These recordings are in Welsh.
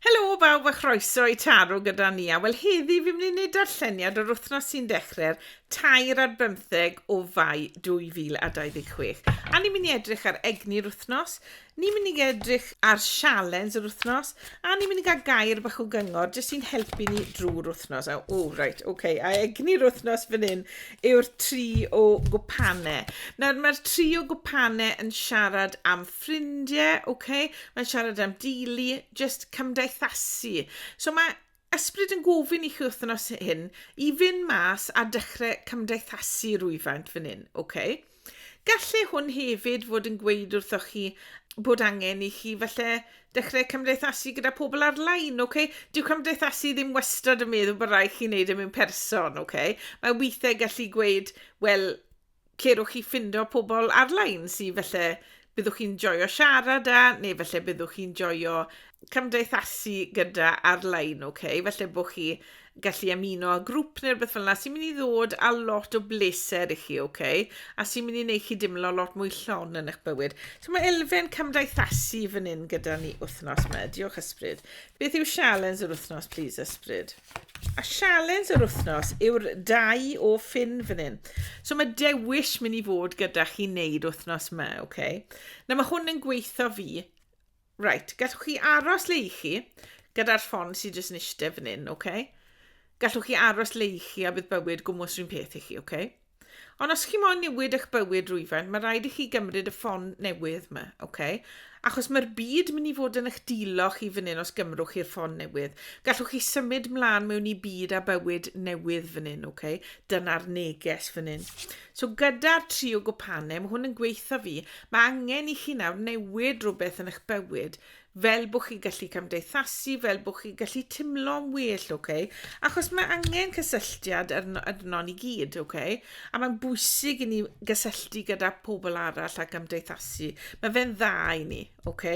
Helo bawb a chroeso i Taro gyda Nia. Wel heddi fi'n mynd i wneud darlleniad o'r wythnos sy'n dechrau'r tair ar bymtheg o fai 2026. A ni'n mynd i edrych ar egni'r wythnos, ni'n mynd i edrych ar sialens yr wythnos, a ni'n mynd i gael gair bach o gyngor jyst sy'n helpu ni drwy'r wythnos. A, o, reit, oce, okay. a egni'r wythnos fan hyn yw'r tri o gwpanau. Nawr, mae'r tri o gwpanau yn siarad am ffrindie, ok, mae'n siarad am deulu, just cymdeithasu. So mae ysbryd yn gofyn i chi wythnos hyn i fynd mas a dechrau cymdeithasu rwyfaint fan hyn, ok? Gallai hwn hefyd fod yn gweud wrthoch chi bod angen i chi falle dechrau cymdeithasu gyda pobl ar-lein, ok? Dyw cymdeithasu ddim wastad yn meddwl bod rhaid chi wneud e mewn person, ok? Mae weithiau gallu gweud, wel, lle rwch chi ffindo pobl ar-lein sy falle byddwch chi'n joio siarad â, neu falle byddwch chi'n joio cymdeithasu gyda ar-lein, oce? Okay? Falle bod chi gallu ymuno â grŵp neu rhywbeth fel yna sy'n mynd i ddod â lot o bleser i chi, oce? Okay? A sy'n mynd i wneud chi dimlo lot mwy llon yn eich bywyd. So mae elfen cymdeithasu fan hyn gyda ni wythnos yma. Diolch ysbryd. Beth yw sialens yr wythnos, please, ysbryd? A sialens yr wythnos yw'r dau o ffin fan hyn. So mae dewis mynd i fod gyda chi wneud wythnos yma, oce? Okay? Na mae hwn yn gweithio fi. Right, gallwch chi aros le i chi gyda'r ffon sydd jyst yn eistedd fan hyn, oce? Okay? Gallwch chi aros le i chi a bydd bywyd gwmwys rhywun peth i chi, oce? Okay? Ond os chi moyn newid eich bywyd rwyfen, mae rhaid i chi gymryd y ffon newydd yma, oce? Okay? Achos mae'r byd mynd i fod yn eich dilo chi fan hyn os gymrwch chi'r ffon newydd. Gallwch chi symud mlaen mewn i byd a bywyd newydd fan hyn, oce? Okay? Dyna'r neges fan hyn. So gyda'r tri o gwpane, mae hwn yn gweitha fi, mae angen i chi nawr newid rhywbeth yn eich bywyd. fel bod chi'n gallu cymdeithasu, fel bod chi'n gallu timlo'n well, ok? Achos mae angen cysylltiad arnon i gyd, ok? A mae'n bwysig i ni gysylltu gyda pobl arall a cymdeithasu. Mae fe'n dda i ni, ok?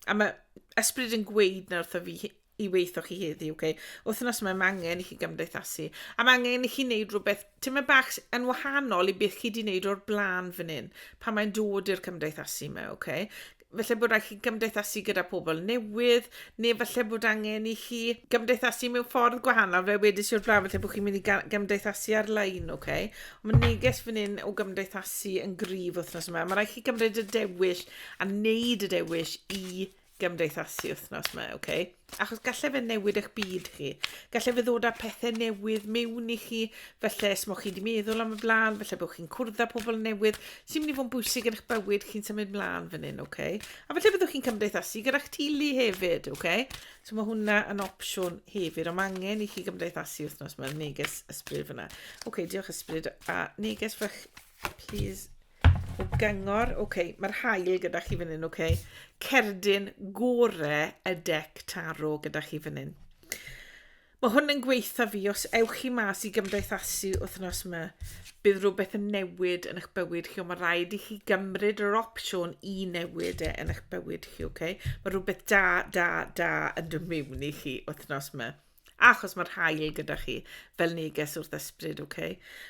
A mae ysbryd yn gweud na wrtho fi i weithio chi heddi, ok? Wythnos mae angen i chi gymdeithasu. A mae angen i chi wneud rhywbeth ti'n mynd bach yn wahanol i beth chi wedi wneud o'r blaen fan hyn, pan mae'n dod i'r cymdeithasu yma, ok? falle bod rhaid chi gymdeithasu gyda pobl newydd, neu falle bod angen i chi gymdeithasu mewn ffordd gwahanol, fe wedi siwr flaen, falle bod chi'n mynd i gymdeithasu ar-lein, oce? Okay? Mae neges fan hyn o gymdeithasu yn gryf wythnos yma. Mae rhaid chi gymryd y dewis a wneud y dewis i gymdeithasu wythnos yma, oce? Okay? achos gallai fe newid eich byd chi. Gallai fe ddod â pethau newydd mewn i chi, felly os mo chi wedi meddwl am y blaen, felly bod chi'n cwrdd â pobl newydd sy'n mynd i fod yn bwysig yn eich bywyd chi'n symud mlaen fan hyn, ok? A felly byddwch chi'n cymdeithasu gyda'ch teulu hefyd, ok? So mae hwnna yn opsiwn hefyd, ond mae angen i chi gymdeithasu wythnos mae'r neges ysbryd fyna. Ok, diolch ysbryd, a neges fach Plis. O gyngor. Ok, mae'r haul gyda chi fan hyn, ok. Cerdyn gore y dec taro gyda chi fan hyn. Mae hwn yn gweitha fi, os ewch chi mas i gymdeithasu wythnos yma, bydd rhywbeth yn newid yn eich bywyd chi, ond mae rhaid i chi gymryd yr opsiwn i newid e yn eich bywyd chi, ok? Mae rhywbeth da, da, da yn dod mewn i chi wythnos yma. Achos mae'r haul gyda chi fel neges wrth ysbryd, ok?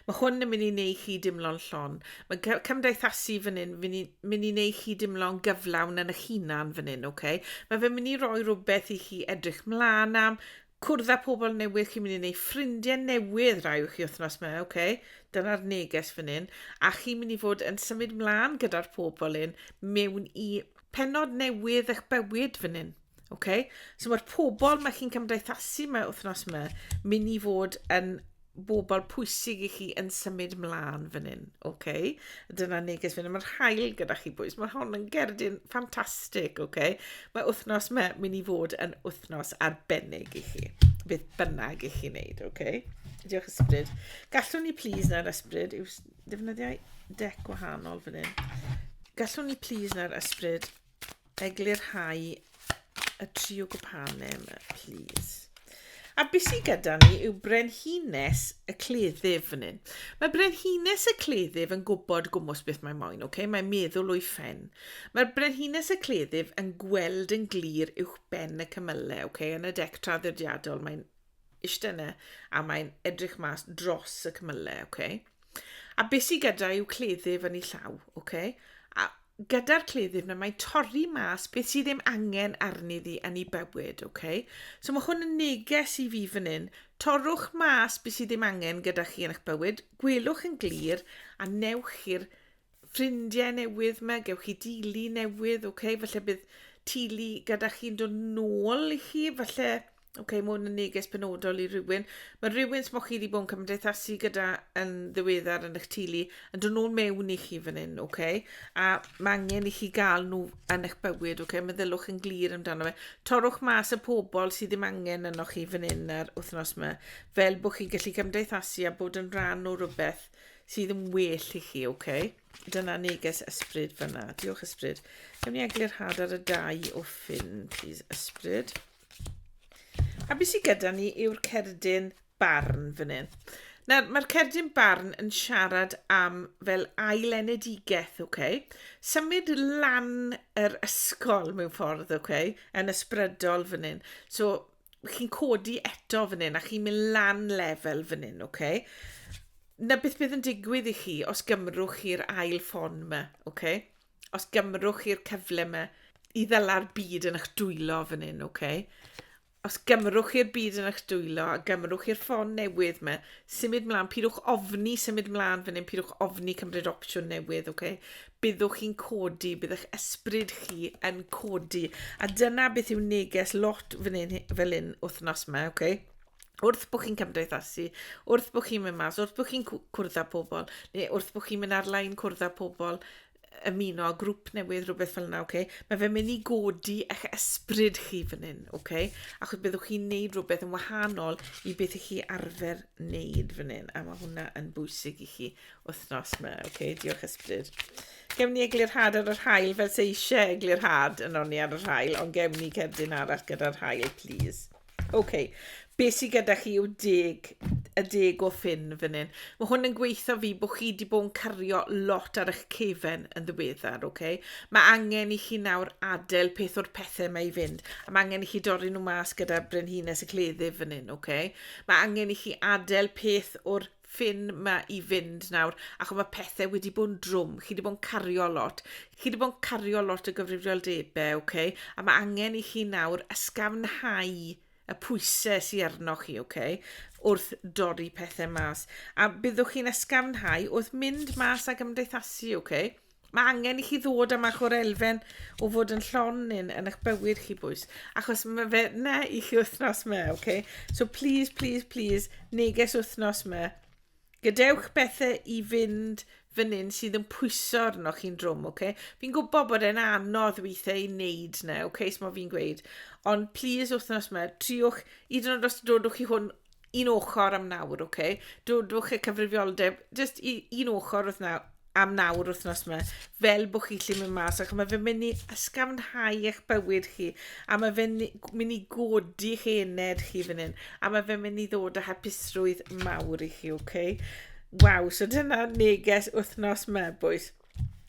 Mae hwn yn mynd i neu chi dimlo'n llon. Mae cymdeithasu fan hyn mynd i, mynd i neu chi dimlo'n gyflawn yn eich hunan fan hyn, ok? Mae fe'n mynd i roi rhywbeth i chi edrych mlaen am, cwrdd â pobl newydd, chi'n mynd i neu ffrindiau newydd rai o'ch chi wythnos yma, ok? Dyna'r neges fan hyn. A chi'n mynd i fod yn symud mlaen gyda'r pobl hyn mewn i penod newydd eich bywyd fan hyn. Ok? So mae'r pobl mae chi'n cymdeithasu mae wythnos yma mynd i fod yn bobl pwysig i chi yn symud mlaen fan hyn. Ok? Dyna neges fan hyn. Mae'r hael gyda chi bwys. Mae hon yn gerdyn ffantastig. Ok? Mae wythnos yma mynd i fod yn wythnos arbennig i chi. Beth bynnag i chi wneud. Ok? Diolch ysbryd. Gallwn ni please na'r ysbryd yw ddefnyddiau dec wahanol fan hyn. Gallwn ni please na'r ysbryd eglurhau y triw gwpane yma, please. A beth sydd gyda ni yw brenhines y cleddyf fan hyn. Mae brenhines y cleddyf yn gwybod gwmwys beth mae moyn, okay? mae'n meddwl o'i ffen. Mae'r brenhines y cleddyf yn gweld yn glir uwch ben y cymylau, okay? yn y dec traddodiadol mae'n eistedd yna a mae'n edrych mas dros y cymylau. Okay? A beth sydd gyda yw cleddyf yn ei llaw. Okay? A gyda'r cleddyf na mae'n torri mas beth sydd ddim angen arni ddi yn ei bywyd, ok? So mae hwn yn neges i fi fan hyn. Torrwch mas beth sydd ddim angen gyda chi yn eich bywyd, gwelwch yn glir a newch chi'r ffrindiau newydd yma, gewch chi dili newydd, ok? Falle bydd tili gyda chi'n dod nôl i chi, falle Oce, okay, mae hwn yn neges penodol i rywun. Mae rhywun smoch chi wedi bod yn cymdeithasu gyda yn ddiweddar yn eich tulu, yn dod nhw'n mewn i chi fan hyn, oce? Okay? A mae angen i chi gael nhw yn eich bywyd, oce? Okay? Meddyliwch yn glir amdano fe. Torwch mas y pobl sydd ddim angen yno chi fan hyn ar wythnos yma, fel bod chi'n gallu cymdeithasu a bod yn rhan o rhywbeth sydd yn well i chi, oce? Okay? Dyna neges ysbryd fyna. Diolch ysbryd. Gawn ni eglurhad ar y dau o ffyn, please, ysbryd. A beth sydd gyda ni yw'r cerdyn barn fan hyn. Nawr, mae'r cerdyn barn yn siarad am fel ailenedigaeth, ok? Symud lan yr ysgol mewn ffordd, ok? Yn ysbrydol fan hyn. So, chi'n codi eto fan hyn a chi'n mynd lan lefel fan hyn, ok? Na beth bydd yn digwydd i chi os gymrwch chi'r ail ffon yma, ok? os gymrwch chi'r cyfle yma i ddela'r byd yn eich dwylo fan hyn, oce? Okay? Os gymrwch chi'r byd yn eich dwylo a gymrwch chi'r ffôn newydd yma, symud mlaen, pidwch ofni symud mlaen fan hyn, pidwch ofni cymryd opsiwn newydd, oce? Okay? Byddwch chi'n codi, bydd eich ysbryd chi yn codi. A dyna beth yw neges lot fan hyn, fel hyn wythnos yma, oce? Okay? wrth bod chi'n cymdeithasu, wrth bod chi'n mynd mas, wrth bod chi'n cwrdd â pobl, neu wrth bod chi'n mynd ar-lein cwrdd â pobl, ymuno â grŵp newydd, rhywbeth fel yna, okay? mae fe'n mynd i godi eich ysbryd chi fan hyn, okay? achos byddwch chi'n neud rhywbeth yn wahanol i beth i chi arfer neud fan hyn, a mae hwnna yn bwysig i chi wythnos yma, okay? diolch ysbryd. Gewn ni eglurhad ar yr hael fel se eisiau eglurhad yn onni ar yr hael, ond gewn ni cerdyn arall gyda'r hael, please. Ok, be sydd gyda chi yw deg, y deg o ffyn fan hyn. Mae hwn yn gweithio fi bod chi wedi bod yn cario lot ar eich cefen yn ddiweddar, ok? Mae angen i chi nawr adael peth o'r pethau mae i fynd. A mae angen i chi dorri nhw mas gyda brenhines y cleddyf fan hyn, ok? Mae angen i chi adael peth o'r ffin ma i fynd nawr, ac mae pethau wedi bod yn drwm, chi wedi bod yn cario lot, chi wedi bod yn cario lot o gyfrifoldebau, okay? a mae angen i chi nawr ysgafnhau y pwysau sy'n arno chi, okay? wrth dorri pethau mas. A byddwch chi'n ysgafnhau wrth mynd mas a gymdeithasu, okay? Mae angen i chi ddod am ach o'r elfen o fod yn llon yn, yn eich bywyd chi bwys. Achos mae fe na i chi wythnos me, oce? Okay? So please, please, please, neges wythnos me. Gadewch bethau i fynd fan hyn sydd yn pwyso arno chi'n drwm, oce? Okay? Fi'n gwybod bod e'n anodd weithiau i wneud na, oce, okay, so fi'n gweud. Ond please wythnos yma, triwch, i dyn nhw'n dros dodwch chi hwn un ochr am nawr, oce? Okay? Dodwch y cyfrifioldeb, just un ochr wrth nawr, am nawr wythnos yma, fel bod chi'n lle mynd mas, ac mae fe'n mynd i ysgafnhau eich bywyd chi, a mae fe'n mynd i godi chi ened chi fan hyn, a mae fe'n mynd i ddod â hapusrwydd mawr i chi, oce? Okay? Waw, so dyna neges wythnos yma, bwys.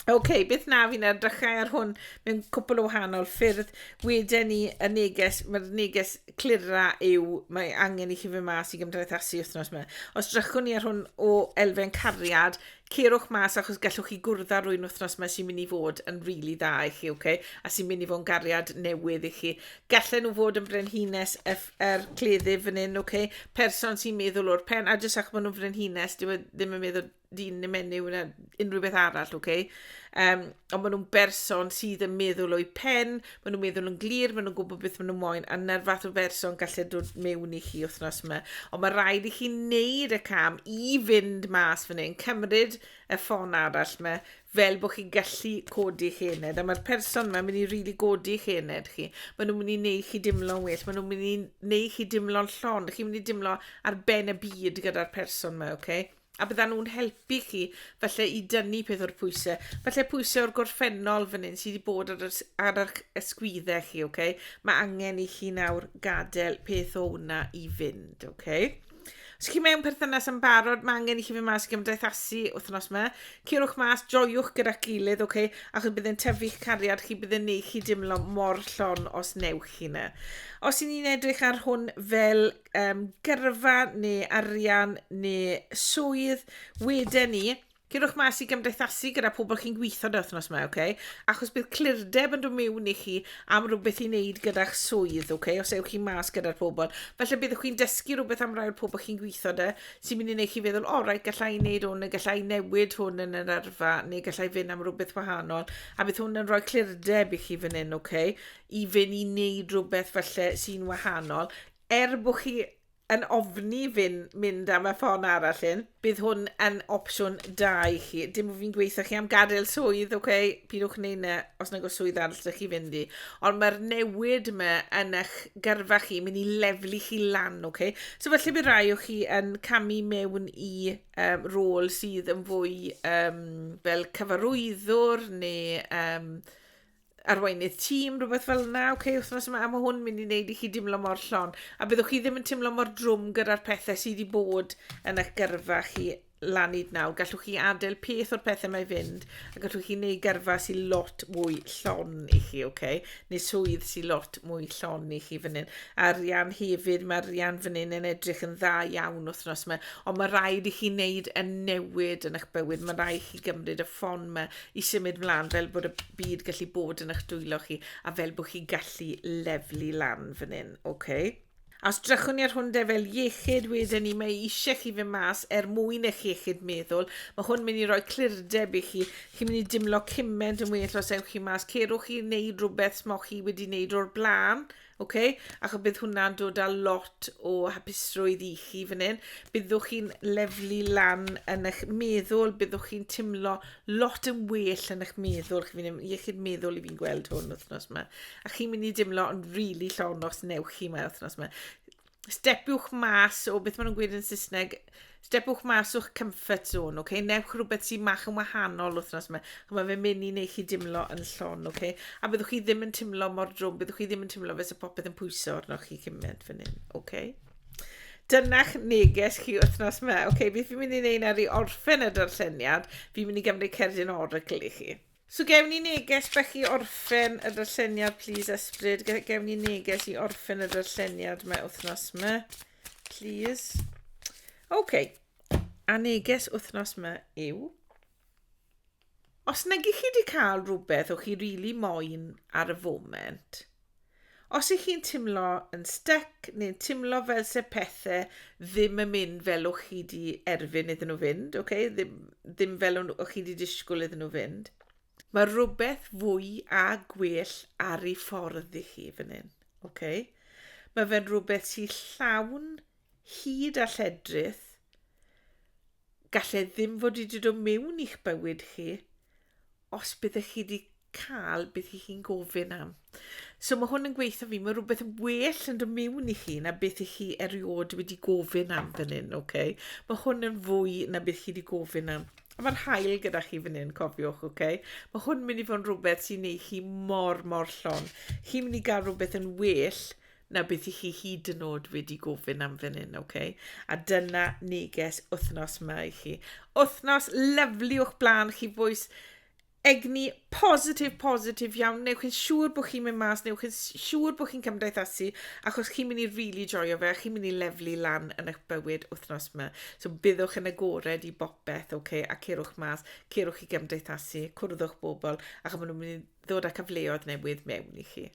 OK, beth na fi'n edrychau ar hwn mewn cwpl o wahanol ffyrdd. Wedyn ni, y neges, mae'r neges clira yw, mae angen i chi fy mas i gymdeithasu wythnos yma. Os drychwn ni ar hwn o elfen cariad, cerwch mas achos gallwch chi gwrdd ar rwy'n wythnos yma sy'n mynd i fod yn rili really dda i chi, okay? a sy'n mynd i fod yn gariad newydd i chi. Gallen nhw fod yn frenhines y er cleddyf fan hyn, okay? person sy'n meddwl o'r pen, a jyst achos bod nhw'n frenhines, ddim yn meddwl dyn neu menyw neu unrhyw beth arall, ok? Um, ond maen nhw'n berson sydd yn meddwl o'i pen, maen nhw'n meddwl yn glir, maen nhw'n gwybod beth maen nhw'n moyn, a na'r fath o berson gallu dod mewn i chi wythnos yma. Ond mae rhaid i chi wneud y cam i fynd mas fan hyn, cymryd y ffôn arall yma, fel bod chi'n gallu codi chi ened. A mae'r person yma yn mynd i rili really godi chi ened chi. Maen nhw'n mynd i wneud chi dimlo'n well, maen nhw'n mynd i wneud chi dimlo'n llon, chi'n mynd i dimlo ar ben y byd gyda'r person yma, oce? Okay? a byddan nhw'n helpu chi falle i dynnu peth o'r pwysau. Falle pwysau o'r gorffennol fan hyn sydd wedi bod ar, ys, ar eich ysgwyddau chi, oce? Okay? Mae angen i chi nawr gadael peth o hwnna i fynd, oce? Okay? Os chi mewn perthynas yn barod, mae angen i chi fynd mas i gymdeithasu wythnos yma. Cyrwch mas, joiwch gyda'r gilydd, oce? Okay? Achos byddai'n tyfu'ch cariad chi, byddai'n neud chi dimlo mor llon os newch chi yna. Os i ni'n edrych ar hwn fel um, gyrfa neu arian neu swydd, wedyn ni, Gyrwch mas i gymdeithasu gyda pobl chi'n gweithio dy wythnos yma, okay? achos bydd clirdeb yn dod mewn i chi am rhywbeth i wneud gyda'ch swydd, okay? os ewch chi mas gyda'r pobl. Felly byddwch chi'n dysgu rhywbeth am rai'r pobl chi'n gweithio dy, sy'n mynd i wneud chi feddwl, o, oh, rai, gallai wneud hwn, neu gallai newid hwn yn yr arfa, neu gallai fynd am rhywbeth wahanol, a bydd hwn yn rhoi clirdeb i chi fan hyn, okay? i Fynn i wneud rhywbeth falle sy'n wahanol, er bod chi yn ofni Fynn mynd am y ffon arall hyn, bydd hwn yn opsiwn da i chi. Dim bod fi'n gweithio chi am gadael swydd, ok, pidwch wneud na os nag oes swydd arall ydych chi fynd i. Ond mae'r newid yma yn eich gyrfa chi, mynd i leflu chi lan, ok? So felly bydd rai o chi yn camu mewn i um, rôl sydd yn fwy um, fel cyfarwyddwr neu um, arweinydd tîm, rhywbeth fel yna, oce, okay, wythnos yma, a mae hwn mynd i wneud i chi dimlo mor llon. A byddwch chi ddim yn timlo mor drwm gyda'r pethau sydd wedi bod yn eich gyrfa chi lan hyd nawr. Gallwch chi adael peth o'r pethau mae fynd, a gallwch chi wneud gyrfa sy'n lot mwy llon i chi, oce? Okay? Neu swydd sy'n lot mwy llon i chi fan hyn. A'r Rian hefyd, mae'r Rian fan hyn yn edrych yn dda iawn wythnos yma, ond mae rhaid i chi wneud y newid yn eich bywyd, mae rhaid i chi gymryd y ffon yma, i symud mlaen fel bod y byd gallu bod yn eich dwylo chi a fel bod chi gallu leflu lan fan hyn, oce? Okay? Os drychwn ni ar hwn de fel iechyd wedyn ni, mae eisiau chi fy mas er mwyn eich iechyd meddwl. Mae hwn mynd i roi clirdeb i chi. Chi'n mynd i dimlo cyment yn well os ewch chi mas. Cerwch chi wneud rhywbeth smoch chi wedi wneud o'r blaen. Ok, achos bydd hwnna'n dod â lot o hapusrwydd i chi fan hyn. Byddwch chi'n leflu lan yn eich meddwl, byddwch chi'n timlo lot yn well yn eich meddwl. Chi'n mynd i iechyd meddwl i fi'n gweld hwn wythnos yma. A chi'n mynd i dimlo yn rili really llon os newch chi yma wythnos yma. stepiwch mas o beth maen nhw'n gweud yn Saesneg, stepiwch mas o'ch comfort zone, okay? newch rhywbeth sy'n mach yn wahanol wythnos yma. Mae fe'n mynd i wneud chi dimlo yn llon, okay? a byddwch chi ddim yn timlo mor drwm, byddwch chi ddim yn timlo fes y popeth yn pwyso arnoch chi cymaint fan hyn. Okay? Dyna'ch neges chi wythnos yma. Okay, beth fi'n mynd i wneud nawr i orffen y darlleniad, fi'n mynd i gymryd cerdyn oracle i chi. So gewn ni neges bach i orffen y darlleniad plîs Esbryd. Ge- gewn ni neges i orffen y darlleniad mae wythnos yma. Plîs. Oce. A neges wythnos yma yw os nag ych chi wedi cael rhywbeth o'ch chi rili moyn ar y foment, Os ych chi'n timlo yn styc neu'n timlo fel se pethe ddim yn mynd fel o'ch chi 'di erfyn iddyn nhw fynd, oce, ddim ddim fel o'n o'ch chi 'di disgwyl iddyn nhw fynd, mae rhywbeth fwy a gwell ar ei ffordd i chi fan hyn, oce? Mae fe'n rhywbeth sy'n llawn hud a lledrith, Gall e ddim fod wedi dod o mewn i'ch bywyd chi os byddech chi wedi cael beth i chi'n gofyn am. So mae hwn yn gweithio fi, mae rhywbeth yn well yn dod mewn i chi na beth i chi erioed wedi gofyn am fan hyn, oce? Okay? Mae hwn yn fwy na beth chi wedi gofyn am. A mae'r hael gyda chi fan hyn, cofiwch, oce? Okay? Mae hwn yn mynd i fod yn rhywbeth sy'n ei chi mor, mor llon. Chi'n mynd i gael rhywbeth yn well na beth i chi hyd yn oed wedi gofyn am fan hyn, ok? A dyna neges wythnos yma i chi. Wythnos lyflu o'ch blaen chi fwys egni positif, positif iawn. Newch chi'n siŵr bod chi'n mynd mas, newch chi'n siŵr bod chi'n cymdeithasu, achos chi'n mynd i rili really joio fe, chi'n mynd i leflu lan yn eich bywyd wythnos yma. So byddwch yn agored i bopeth, ok? A cerwch mas, cerwch i gymdeithasu, cwrddwch bobl, ac maen nhw'n mynd i ddod â cyfleoedd newydd mewn i chi.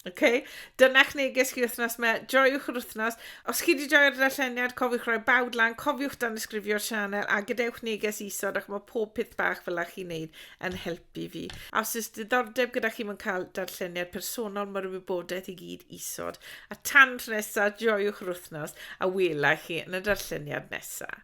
OK, dyna'ch neges chi wythnos me, joiwch yr wythnos. Os chi wedi joio'r darlleniad, cofiwch roi bawd lan, cofiwch dan ysgrifio'r sianel a gadewch neges isod ac mae pob peth bach fel chi'n neud yn helpu fi. A os oes diddordeb gyda chi mewn cael darlleniad personol, mae'r wybodaeth i gyd isod. A tan tro nesaf, joiwch yr wythnos a wela chi yn y darlleniad nesaf.